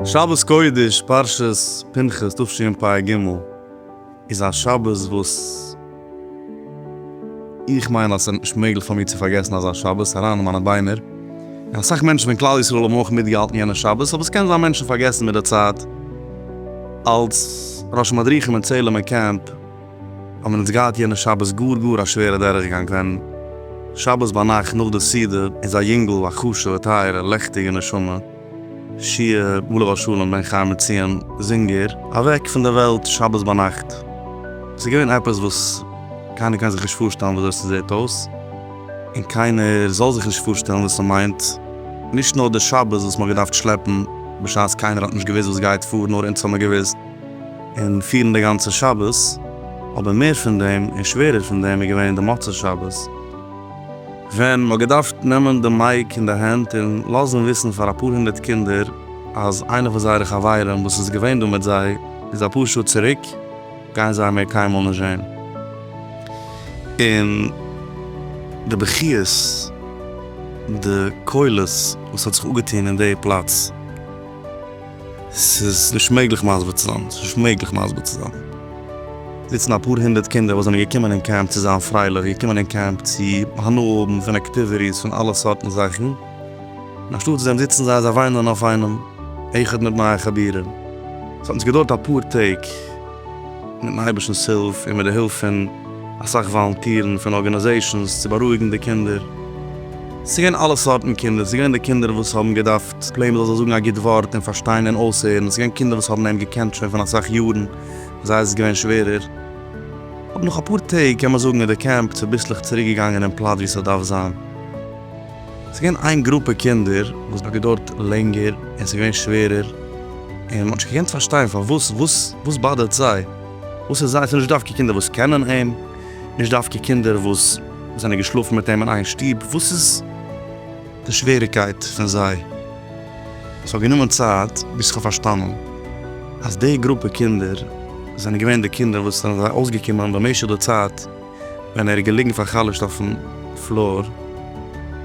שבת קודש פרשת פנחס תשפ ג איז א שבת וואס. איך מיין אז ס'איז נישט מעגליך פאר מיר צו פארגעסן אזא שבת אריין אין מיינע ביינער, און אסאך מענטשן פון כלל ישראל האבן אויך מיטגעהאלטן יענע שבת, אבער ס'קען זיין מענטשן פארגעסן מיט די צייט. אלס ראש מדריכים אין צעהלימער קעמפ האבן אונז געהאט יענע שבת גאר גאר א שווערע דורכגאנג ווען שבת ביינאכט נאך די סעודה איז א יונגל א כשר'ע טייערע לעכטיגע נשמה, שיער בלא ר' שלום בן חיים מציון זינגער אוועק פון די וועלט שבת ביינאכט. עס איז געווען עפעס וואס קיינער קען זיך נישט פארשטעלן ווי אזוי עס זעט אויס, און קיינער זאל זיך נישט פארשטעלן וואס עס מיינט, נישט נאר די שבת וואס מען האט געדארפט שלעפן בשעת קיינער האט נישט געוואוסט וואס גייט פאר, נאר אונז האט מען געוואוסט, און פירן די גאנצע שבת, אבער מער פון דעם און שווערער פון דעם איז געווען די מוצאי שבת. ווען מ'האט געדארפט נעמען די מייק אין די הענט און לאזן וויסן פאר אפאר הונדערט קינדער אז איינע פון זייערע חברים וואס איז געווען דא מיט זיי איז אפאר שעה צוריק גייען זיי מער קיינמאל נישט זען און די בכיות די קולות וואס האט זיך אפגעטון אין די פלאץ. ס'איז נישט מעגליך מסביר צו זיין. ס'איז נישט מעגליך מסביר צו זיין. זיצן אפאר הונדערט קינדער וואס זענען געקומען אין קעמפ צו זיין פרייליך, געקומען אין קעמפ צו הנאה האבן פון אקטיוויטיס, פון אלע סארטן זאכן, און אנשטאט דעם זיצן זיי זיי וויינען אויף איינעם, איחוד מיט נייע חבירים. ס'האט נישט געדויערט אפאר טעג, מיטן אייבערשטנ'ס הילף און מיט די הילף פון אסאך וואלונטירן פון ארגאניזעישאנס, צו בארואיגן די קינדער. ס'איז געווען אלע סארטן קינדער, ס'איז געווען די קינדער וואס האבן געדארפט. ס'איז פלא מ'זאל זיך זאגן א גוט ווארט און פארשטיין און אויסהערן. ס'איז געווען קינדער וואס האבן אים געקענט שוין פון אסאך יארן, ביי זיי איז עס געווען שווערער. אבער נאך אפאר טעג קען מען זאגן איז די קעמפ צוביסלעך צוריק געגאנגען אין פלאץ ווי ס'דארף זיין. ס'איז געווען איין גרופע קינדער וואס האט געדוירט לענגער און ס'איז געווען שווערער, און מ'האט נישט געקענט פארשטיין פארוואס, וואס וואס באדערט זיי? וואס איז זיי? ס'איז נישט דווקא קינדער וואס קענען אים, נישט דווקא קינדער וואס זענען געשלאפן מיט אים אין איין שטוב, וואס איז? די שוועריקייט פון זיי. עס האט גענומען צייט ביז איך האב פארשטאנען אז די גרופע קינדער זענען געווען די קינדער וואס זענען זיי אויסגעקומען במשך די צייט ווען ער איז געליגן פאר'חלש'ט אויפן פלאר,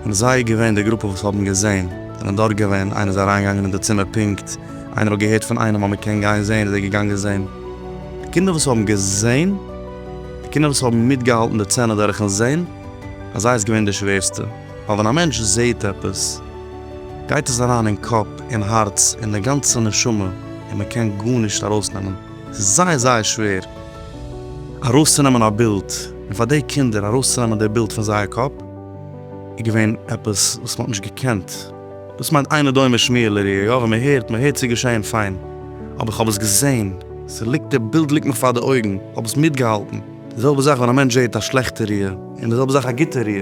און זיי איז געווען די גרופע וואס האבן געזען, זענען דארט געווען, איינער איז אריינגעגאנגען אין די צימער פונקט, איינער האט געהערט פון איינעם אז מען קען גיין זען איז ער געגאנגען זען. די קינדער וואס האבן געזען, די קינדער וואס האבן מיטגעהאלטן די צענע דורכן זען, ביי זיי איז געווען די שווערסטע. ווייל ווען א מענטש זעהט עפעס גייט עס אריין אין קאפ, אין הארץ, אין די גאנצע נשמה, און מען קען גארנישט ארויסנעמען, עס איז זייער זייער שווער ארויסצונעמען א בילד, און פאר די קינדער ארויסצונעמען די בילד פון זייער קאפ איז געווען עפעס וואס מען האט נישט געקענט, דאס מיינט אינו דומה שמיעה לראי', יא ווען מען הערט, מען הערט ס'איז געשעהן פיין, אבער איך האב עס געזעהן, ס'ליגט די בילד ליגט מיך פאר די אויגן, איך האב עס מיטגעהאלטן, די זעלבע זאך ווען א מענטש זעהט א שלעכטע ראי', און די זעלבע זאך א גוטע ראי'.